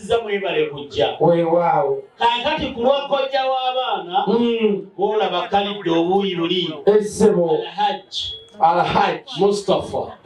nziza mwebale kujja wewaawo kaakati ku lwa kojja w'abaana bwolaba hmm. kalidde obuuyi buli essebo alhaji alhaji mustapha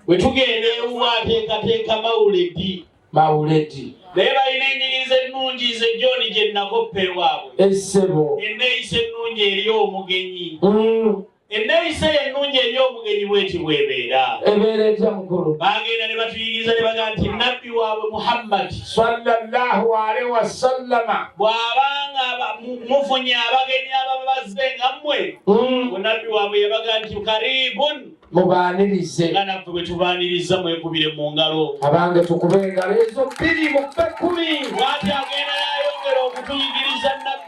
bwe tugenda ewuwa ateekateeka mawuledi mawuledi naye balina enyinyiza ennungi nze john gye nakoppa ewaabwe essebo enneeyisa ennungi eri omugenyi hmm. Ennayisa eyo ennungi eri omugenyi bw'eti bw'ebeera. Ebeera etya mukulu? Baagenda ne batuyigiriza ne bagamba nti Nabbi waabwe Muhammadi sallallahu alaihi wasallama bw'aba nga mufunye abagenyi ababa bazze nga mmwe, hmm. Nabbi waabwe yabaga nti kariibun mubaanirize nga naffe bwe tubaaniriza mwekubire mu ngalo abange tukube engalo ezo bbiri mu kkumi. Bw'ati agenda yayongera okutuyigiriza Nabbi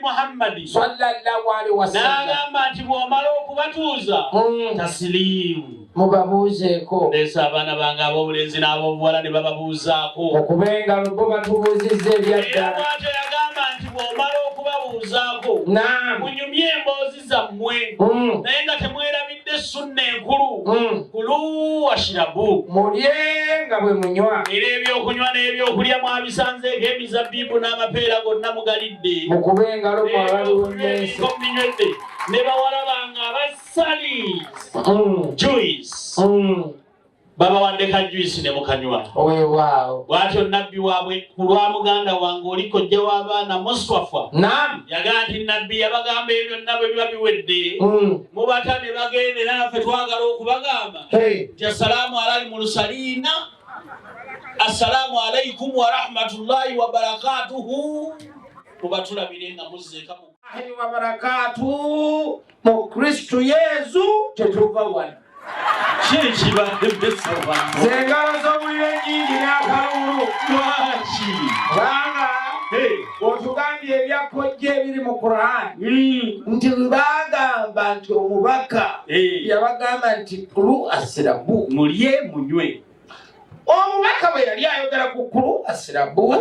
Muhammadi sallallahu alaihi wasallam n'agamba nti bw'omala okubatuuza mm. tasiliimu mubabuuzeeko leesa abaana bange ab'obulenzi n'ab'obuwala ne bababuuzaako okuba engalo bo batubuuzizza ebyaddala bwatyo yagamba nti bw'omala okubabuuzaako munyumye emboozi zammwe mm. naye nga temwerabidde sunna enkulu mm. kulu washirabu mulye nga bwe munywa era ebyokunywa n'ebyokulya mwabisanze ng'emizabbibu n'amapeera gonna mugalidde mukube engalo mwabaliwo nyensi muminywedde ne bawala bange abassali mm. juice babawadde ka juisi ne mukanywa bwatyo nabbi waabwe ku lwa muganda wange oli kojja w'abaana muswafa yagaa nti nabbi yabagamba ebyo byonna bwe biba biwedde mm. mubata ne bagenda era naffe twagala okubagamba nti assalaamu alali mu lusaliina assalaamu alaikum warahmatullahi wabarakatuhu mubatulabire nga muzzeekamu ahi wa barakatu mu kristu yesu kyetuva wano zengalo zobulire nyingi nakalulu lwaki kubanga otugambye ebyakojja ebiri mu quran hmm. nti bagamba nti omubaka yabagamba nti kulu asirabu mulye munywe omubaka bwe yali ayogera ku kulu asirabu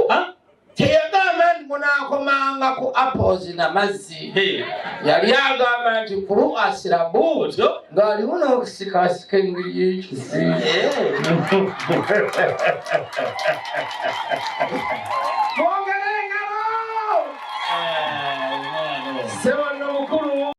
teyagamba nti munakomanga ku apples na mazzi yali agamba nti kulu asirabu ng'aliwo n'okusikasika engeri y'ekizi mwongere engalo sebo